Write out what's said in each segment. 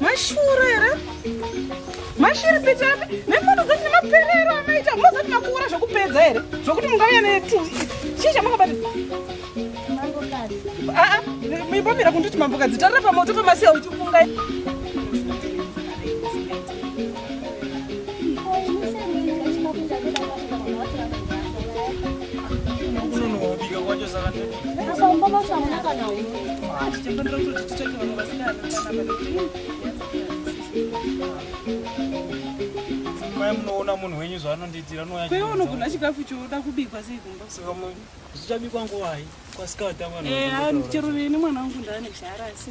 mashura here mashiri pitambi nemoto dzedu nemaperero amaita mozati makuura zvokupedza here zvokuti mungauya netu chii chamakabata aa mimbomira kunditi mambokadzi tarira pamoto pamasiya uchifunga munoona munhu wenyu zvaanondiitira noyaunogona chikafu choda kubikwa sei kumba zvichabikwa nguvai kwasikatanga eh, chero ini mwana wangu ndaane chara asi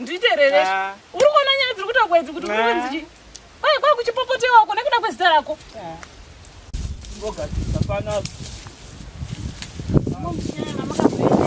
Nditerere. Ah. Uri kuona nyaya dziri kuita kwedzi kuti uri kunzi chi? Kwai kwai kuchipopotewa uko nekuda kwezita rako. Ngogadzisa pana apo. Munyana makazoenda.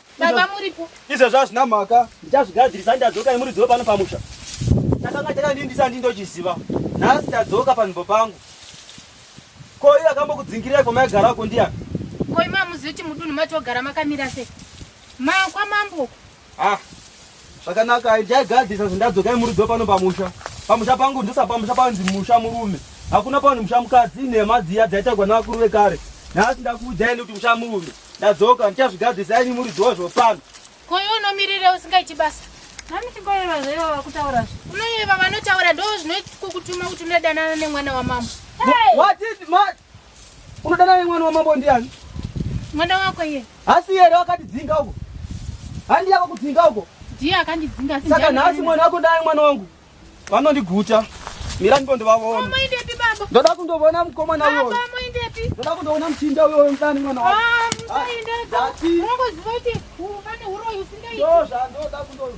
Baba muripo. Izvo zvazvina mhaka. Ndichazvigadzirisa ndadzoka nemuridzo wepano pamusha. Takanga takandindisa ndindochiziva. Nhasi ndadzoka panzvimbo pangu. Ko iye akambokudzingirira kwamaigara uko ndiani? Ko imi hamuzivi kuti mudunhu matogara makamira sei? Makwa mambo. Ah, Zvakanaka itai gadisa zvindadzokai murudo pano pamusha. Pamusha pangu ndisa pamusha panzi musha murume. Hakuna panzi musha mukadzi nhema dziya dzaitagwa navakuru vekare. Nhasi ndakuudzai kuti musha murume. Ndadzoka ndichazvigadzisa ini muridzi wazvo pano. Ko iwe unomirira usingaiti basa? Mami chimboyeva zvaiva vakutaura zve. Unoyeva vanotaura ndoo zvinoita kukutuma kuti unodanana nemwana wamambo. Hey! What is what? Unoda naye mwana wamambo ndiani? Mwana wako iye. Asi iye ndo akatidzinga huko. Handi yako kudzinga huko. Ndiye akandidzinga asi. Saka nhasi mwana wako ndaye mwana wangu. Vanondiguta. Mira ndipo ndovavona. Mama indepi baba? Ndoda kundovona mukoma na uyo. Baba mama indepi? Ndoda kundovona mchinda uyo mtani mwana wako. Ah, mchinda. Unongoziva kuti umane uroyi usingaiti. Ndozvandoda kundovona.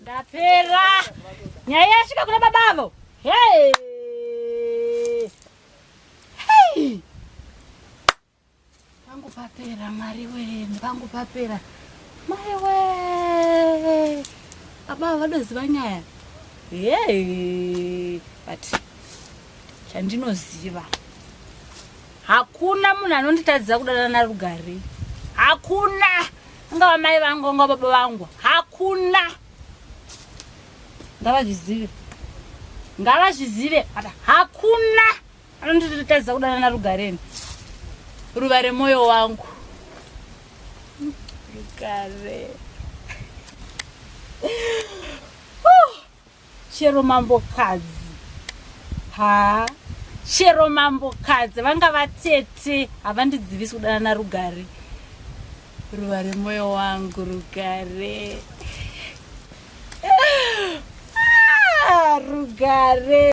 Ndapera. Nyaya yasvika kuna baba avo. Hey! Hey! Pangu papera mari we, pangu papera. Mari we. Baba avo vadoziva nyaya. Hey! But chandinoziva. Hakuna munhu anonditadzisa kudanana naRugare. Hakuna. Ungava mai vangu, ungava baba vangu. Hakuna. Ngavazvizive. Ngavazvizive. Ata hakuna anonditadzisa kudanana naRugare ini. Ruva remoyo wangu. Rugare. Chero mambokadzi haa chero mambokadzi vanga vatete havandidzivisi kudana narugare ruva remoyo wangu rugare ah, rugare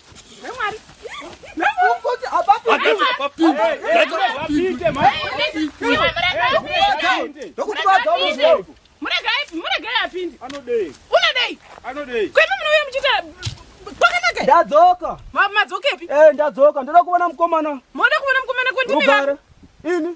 Ndadzoka. Madzokepi? Eh, ndadzoka. Ndoda kuona mkomana. Moda kuona mkomana kundimira. Ini.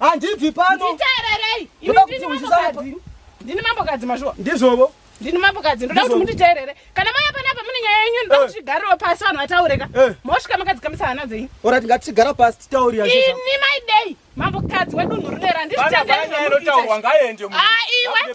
handibvi pano ndini mambokadzi mashuwa ndizvovo ndini mambokadzi ndoda kuti munditeerere kana maya panapa mune nyaya yenyu ndoda kuti tigarewo pasi vanhu vataureka mosvika makadzikamisa hana dzenyu ora tingatigara pasi titaurira ini my day mambokadzi wedunhu rinoera ndizvitendeaiwe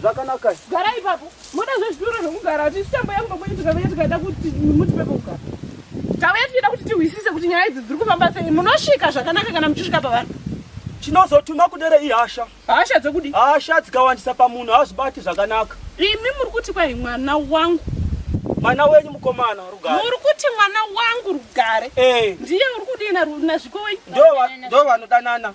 Zvakanaka. Gara ipapo. Moda zvezvituro zvokugara kuti sitambo yangu pamwe tikauya tikada kuti mutipe pokugara. Tauya tichida kuti tihwisise kuti nyaya idzi dziri kufamba sei. Munosvika zvakanaka kana muchisvika pavanhu. Chinozotuma kudere ihasha. Hasha dzekudi? Hasha dzikawandisa pamunhu hazvibati zvakanaka. Imi muri kuti kwai mwana wangu mwana wenyu mukomana rugare muri kuti mwana wangu rugare eh. ndiye uri kudii nazviko wenyu ndo vanodanana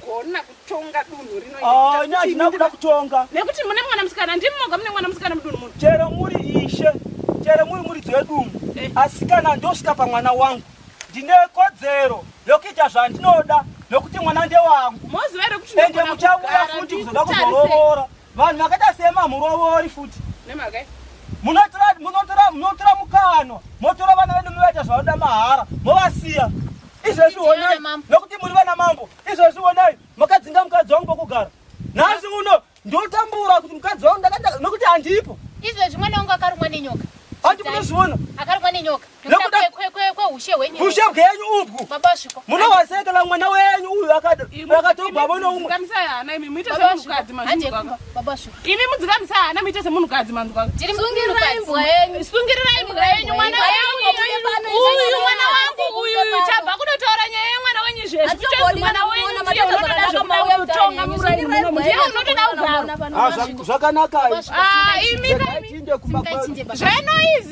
kugona kutonga dunhu rino ah, ini handina kuda kutonga nekuti mune mwana musikana ndimi moga mune mwana musikana mudunhu muno chero muri ishe chero muri muridzi wedunhu eh. asi kana ndosvika pamwana wangu ndine kodzero yokuita zvandinoda nokuti mwana ndewangu moziva here kuti ende muchauya futi kuzoda kuzoroora Vanhu vakaita sema murovori futi. Nemaka. Munotora munotora munotora mukano. Motora vana vedu muvaita zvavanoda mahara. Movasiya. Izvezvi honai. Nokuti muri vana mambo. Izvezvi honai. Makadzinga mukadzi wangu pokugara. Nhasi uno ndotambura kuti mukadzi wangu ndakanda nokuti handipo. Izvezvi mwana wangu akarumwa nenyoka. Handipo nezviona. Akarumwa nenyoka. vushe bwenyu ubwu munowasekela mwana wenyu uyu akatogwa vona umweimi mudzikamisahana muite semunhukadzi manzwasungirirai mwa yenyu mwana uyu mwana wangu uyu tabva kunotaura nyaya yemwana wenyu zvezvitozi mwana wenyuzvakanaka zvenoizi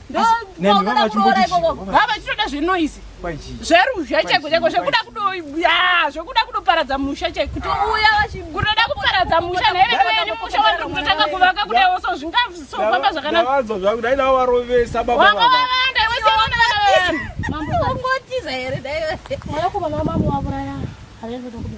vavachitoda zvenoise zveruzha chaiko chaiko zvekuda kudoyazvekuda kudoparadza musha chaiko kuti ah. uya vachikutoda kuparadza musha nheveweni musha wandiri kutotanga kuvaka kudaioso zvingazofamba zvakanakwaakavavanda iweseongotiza here daiwese mwana kuvana vamamwe wauraya havezotokuda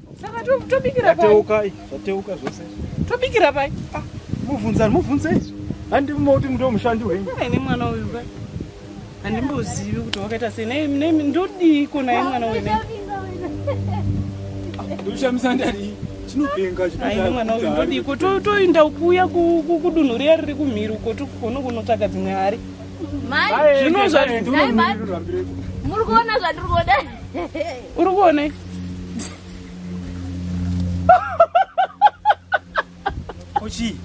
Saka tobikira pai? Zvateuka, zvateuka zvose. Tobikira pai? Ah, mubvunza, mubvunza izvi. Handi moti ndo mushandi wenyu. Nei nemwana uyu pai? Handimbozivi kuti wakaita sei. Nei nei ndodii kona yemwana uyu nei? Ndoshamisa ndadii? chinopenga chinoaimwana uyu ndodiko toinda kuuya kudunhu riya riri kumhiri uko tikugona kunotsvaga dzimwe hari zvino zvamuri kuona zvandiri kuona uri kuonei Kochi.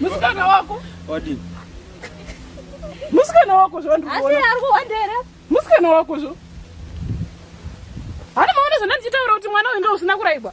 Musikana wako? Odi. Musikana wako zvo ndikuona. Asi ari kuwandera. Musikana wako zvo. Hana maona zvona ndichitaura kuti mwana uyu ndio usina kuraigwa.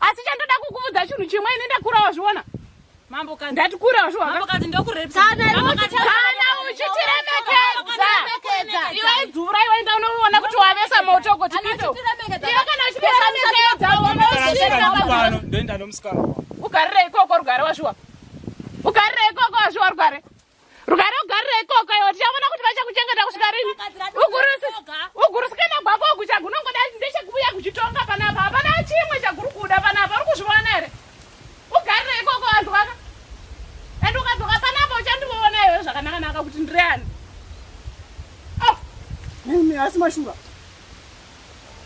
asi chandoda kukuvudza chinhu chimwe ini ndakura wazviona mambo kanzi ndati kura wazviona mambo kanzi ndokurepa kana kana uchitiremekedza iwe dzura iwe enda unoona kuti wavesa moto kuti ido iwe kana uchitiremekedza unoona ndoenda nomusikana ugarire ikoko rugare wazviwa ugarire ikoko wazviwa rugare rugare ugarira ikoko iwe tichaona kuti vachakuchengeta kusvika rini ugurusikana gwako uku chagunongoda ndechekuuya kuchitonga panapa hapana chimwe chaguri kuda panapa uri kuzviona here ugarira ikoko vanhu vaka and ukadzoka panapa uchandivoona iwe zvakanakanaka kuti ndiri ani oh. asi mashura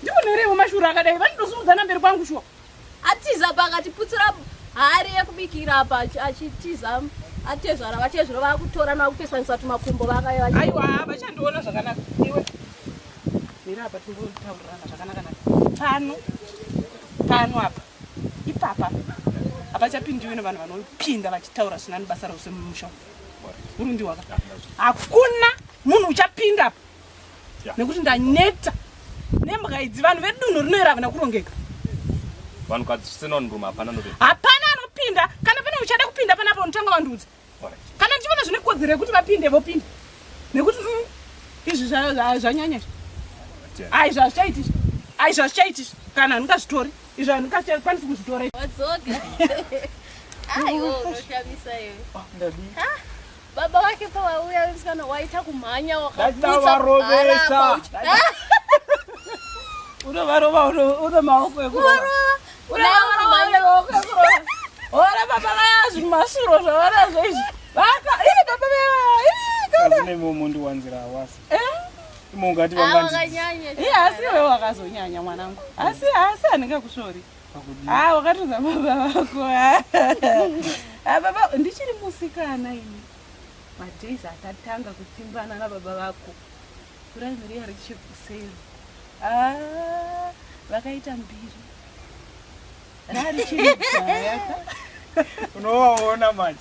ndiwo nerevo mashura akadai vanodosimudzana mberi kwangu shuwa Atiza apa akatiputsira hari yekubikira apa achitiza atezvara vachezviro vakutorana vakupesanisa tumakumbo vakaya aiwa vachandiona zvakanaka iwe mira apa timbotaurirana zvakanaka na pano pano apa ipapa apachapindiwe nevanhu vanopinda vachitaura zvisina nebasa rose mumusha urundi waka hakuna munhu uchapinda apa nekuti ndaneta nembwa idzi vanhu vedunhu rinoera havana kurongeka vanhukadzi zvisina vanhu rume hapana nove hapana anopinda kana pane uchada kupinda pana apa unotanga wandudza kana ndichiona zvine kodzero yekuti vapinde vopinda nekuti mm, izvi zvanyanya ai zvazvichaiti ai zvazvichaiti kana handingazvitori izvo handingakwanisi kuzvitora Baba wake pawauya msikana waita kumhanya wakadutsa unovarova une maoko ekuroora baba vaya zvimasuro zvavanazvo izvi nemomondiwanzira awasi eh? imongati vangati asi iwe wakazonyanya mwanangu asi asi handingakusvori Ah, wakatoza baba vako. Ah, ah baba ndichiri musikana ini. Madays akatanga kutsimbana na baba vako. Primary yari chikuseri. Ah, vakaita mbiri. Rari chiri. Unowaona manje.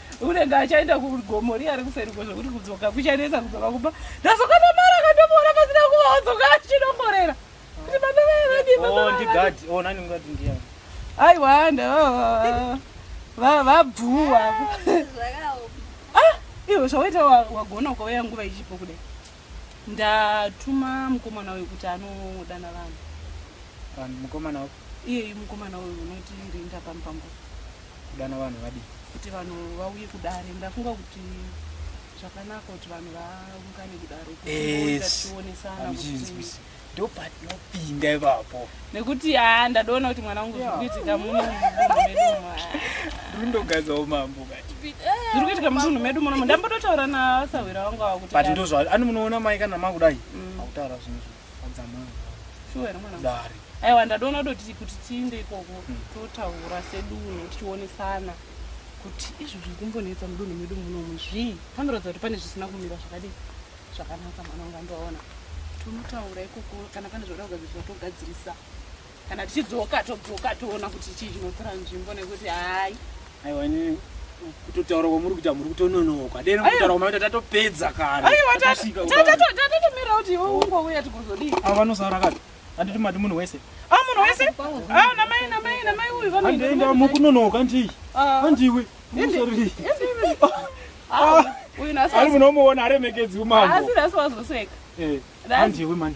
unenge achaenda kugomo riya rekuseri ko zvekuti kudzoka kuchanetsa kudzoka kumba ndazoka namara akandomuona pasina kuva odzoka achinomborera kuti baba vaya vadii oh, ndigadi oh, nani ungati ndiya aiwa ndava vabvuwa ah, iwe zvawaita wagona ukauya nguva ichipo kudai ndatuma mukomana uyu kuti anodana vanhu mukomana iyeyu mukomana uyu unoti rinda pano panguva kudana vanhu vadii kuti vanhu vauye kudare ndafunga kuti zvakanaka kuti vanhu vaungane kudare kutionesana ndopat nopinda ipapo nekuti haa ndadoona kuti mwana wangu zvikuitika muno ndindogadzawo mambo zviri kuitika mudunhu medu munomu ndambototaura naasahwira wangu ava kuti but ndozva ani munoona mai kana makudai mm. akutaura zvinhu shuwa here mwana dare aiwa ndadona doti kuti tiinde ikoko hmm. totaura sedunhu tichionesana kuti izvo zviri kumbonetsa mudunhu medu munomu zvii panoratidza kuti pane zvisina kumira zvakadii zvakanaka mwana wangu andoaona tonotaura ikoko kana pane zvoda kugadzirisa togadzirisa kana tichidzoka todzoka toona kuti chii chinotora nzvimbo nekuti hayi aiwa inini kutotaura kwamuri kuita muri kutononoka deno kutaura kwamaita tatopedza karetatatomirira kuti iwe ungouya tigozodii ava vanosaura kapi anditi mati munhu wese a ah, munhu wese ah, namai namai namai uyu vanoenda mukunonoka ndii ah. andiwe musoririi ari munomuona aremekedziwo mambo asi that's wazoseka eh, andiwe mani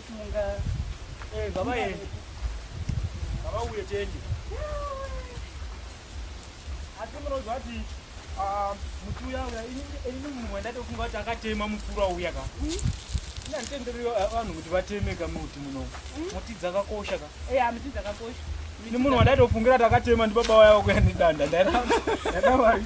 asi munonzwa kuti ah, muti uya uya ini mumwe ndatofunga kuti akatema mukuru auya ka inanditenderero hmm? eh, vanhu kuti vateme ka muti muno hmm? muti dzakakosha ka eh, ah, muti dzakakosha ini munhu wandaitofungira kuti akatema ndi baba waya wakuya nedanda ndaidavaii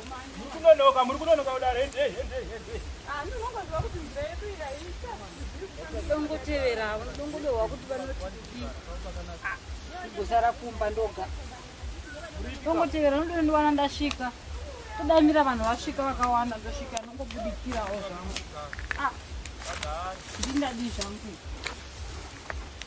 Murikunonoka, murikunonoka kudara, hende, hende, hende. Ah, ndinongoziva kuti nzira yedu iraita. Ndongotevera, ndongodohwa kuti vanoti. Ah, kugozara kumba ndoga. Ndongotevera, ndodero ndiwana ndasvika. Todamira vanhu vasvika vakawanda ndosvika ndongobudikirawo zvangu. Ah, ndindadi zvangu.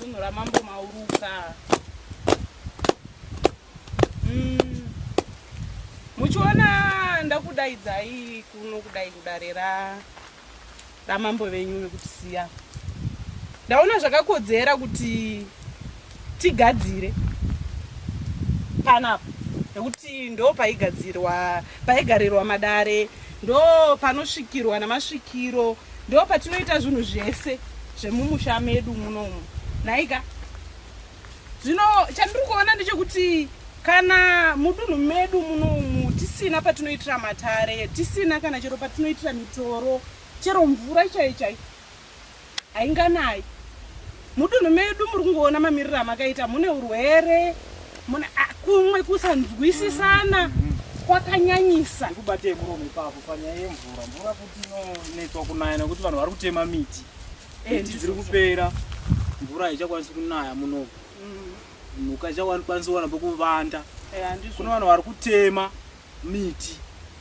Dunhu ramambo mauruka. Mm. Muchiona ndakudaidzai kuno kudai kudare ra ramambo venyu vekuti siya. Ndaona zvakakodzera kuti tigadzire panapa nekuti ndo paigadzirwa paigarirwa madare ndo panosvikirwa namasvikiro ndo patinoita zvinhu zvese zvemumusha medu munomu naika zvino chandiri kuona ndechekuti kana mudunhu medu munomu tisina patinoitira matare tisina kana chero patinoitira mitoro chero mvura chai chai hainganayi mudunhu medu muri kungoona mamiriro amakaita mune urwere mune kumwe kusanzwisisana kwakanyanyisa kubatei muromo ipapo panyaya yemvura mvura kuti inonetswa kunaya nekuti vanhu vari kutema miti miti dziri kupera mvura haichakwanisi kunaya munomu mm. mhuka ichakwanisi kuwana pokuvanda kune vanhu vari kutema miti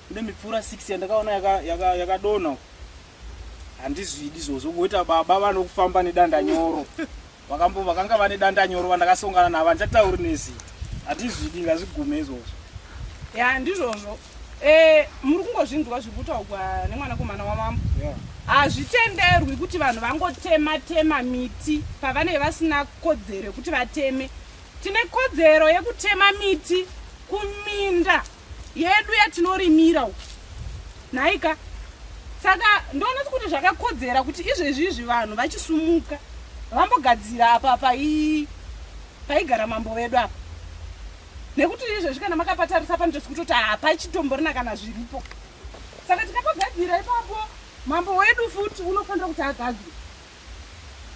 kune mipfuura 6 yandakaona yakadonha yaka, yaka handizvidi izvozvo ngoita baba vanokufamba nedanda nyoro vakambo vakanga vane danda nyoro vandakasongana navo handitauri nezita handizvidi ngazvigume izvozvo ya ndizvozvo eh, muri kungozvinzwa zviri kutaugwa nemwanakomana wamambo hazvitenderwi yeah. kuti vanhu vangotema tema miti pavanenge vasina kodzero yekuti vateme tine kodzero yekutema miti kuminda yedu yatinorimira uku nhaika saka ndoona kuti zvakakodzera kuti izvezvi izvi vanhu vachisumuka vambogadzira apa pai paigara mambo vedu apa nekuti izvezvi kana makapatarisa panotosi kutoti hapachitomborina kana zviripo saka tikapagadzira ipapo mambo wedu futi unofanira kuti agadzire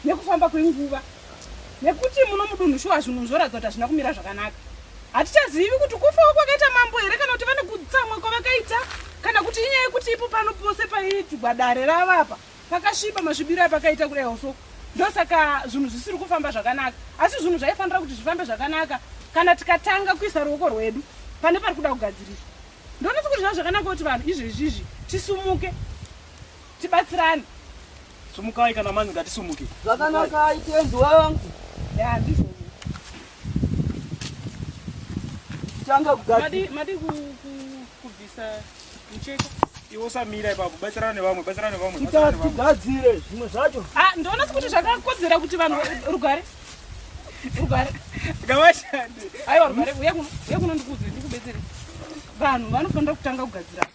nekufamba kwenguva nekuti muno mudunhu shuwa zvinhu zvoratidza kuti hazvina kumira zvakanaka hatichazivi kuti kufawo kwakaita mambo here kana kuti vane kutsamwa kwavakaita kana kuti inyaya yekuti ipo pano pose paiitigwa dare ravapa pakasviba masvibiro apakaita kudai oso ndosaka zvinhu zvisiri kufamba zvakanaka asi zvinhu zvaifanira kuti zvifambe zvakanaka kana tikatanga kuisa ruoko rwedu pane pari kuda kugadziriswa ndonatsi kuti zvaa zvakanaka kuti vanhu izvezvi izvi tisumuke tibatsirane sumukai kana mani ngatisumuke zvakanaka itenzi wangu ya ndizvo tanga kugadi madi kubvisa mucheka iwo samira ipapo batsirana nevamwe batsirana nevamwe tigadzire zvimwe zvacho ah ndoona sekuti zvakakodzera kuti vanhu rugare rugare ngavashande aiwa rugare uya kuno ndikuudze ndikubetsere vanhu vanofanira kutanga kugadzira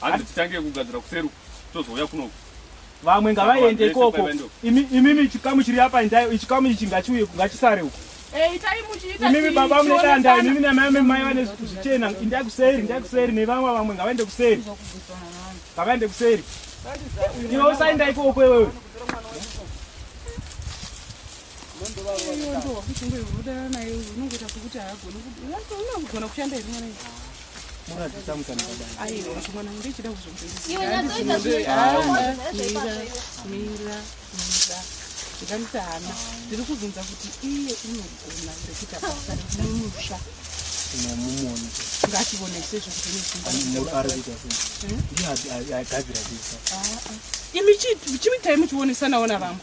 Hanzi titange kugadzira kuseru tozouya kunoku. Vamwe ngavaende ikoko. Imi imi chikamu chiri apa endai ichikamu ichi ngachiuye ngachisare uko. Eh itai muchiita. Imi baba mune danda imi na mai mai vane zvichena indai kuseri indai kuseri nevamwe vamwe ngavaende kuseri. Ngavaende kuseri. Iwe usaenda ikoko iwewe. Ndondo wakuti ngoiruda nayo unongoita sokuti haagoni kuti unogona kushanda here mwana iwe. zvikanisa hana ndiri kuzunza kuti iye unogona rekuita basa rekumusha nomumoni ngativone sezvo kuti nezvimbaagadzira hmm? ah, ah. imi chimitai muchionesanawo na vamwe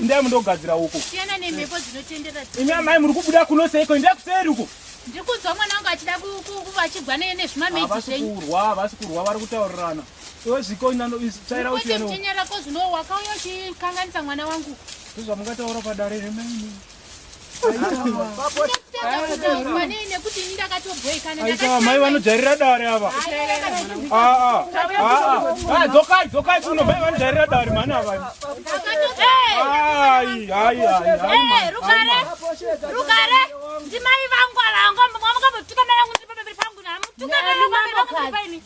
ndai mundogadzira uko imi amai muri kubuda kuno seiko ndai kuseri uko ndiri kunzwa mwana wangu achida vachigwa neye nezvimamedzizvenyuurwa havasi kurwa vari kutaurirana iwe zvikotsvairautinyarako zvino wakauya uchikanganisa mwana wangu ndozvamungataura padare remene mai vanojairira dare ava dzokai dzokai kuno mai vanojairira dare mani avai ndimai vangu avango mwamukamutukamera kuti pamberi pangu namutukamera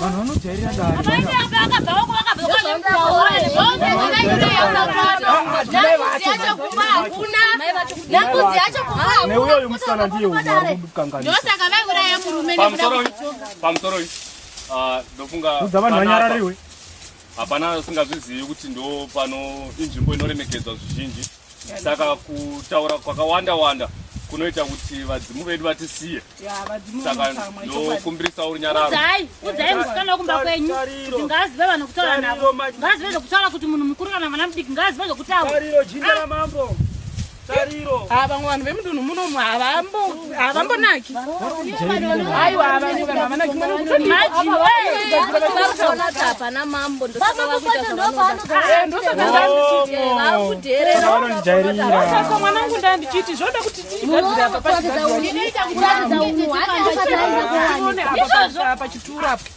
vanhu vanojairira daiuyoyo musikana ndiye ukanganndosaka vaiuraya murume pamusoroi ah, ndofunga udza vanhu vanyarariwe hapana usingazvizivi kuti ndo pano inzvimbo inoremekedzwa zvizhinji saka kutaura kwakawanda wanda kunoita kuti vadzimu vedu vatisiye saka ndokumbirisa urunyararoudai musikana kumba kwenyu kuti ngaazive vanhu kutaura navo ngaazive zvekutaura kuti munhu mukuru kana mwana mudiki ngaazive zvekutaura ah. ah, vamwe vanhu vemudunhu munomu havambo havambonaki aiwa havanaki hapana mambo ndosaka mwanangu ndandichiti zvoda kuti tiigadzira apa pachituro apa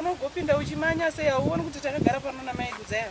unogopinda uchimanya sei hauoni kuti takagara pano namai gudzaya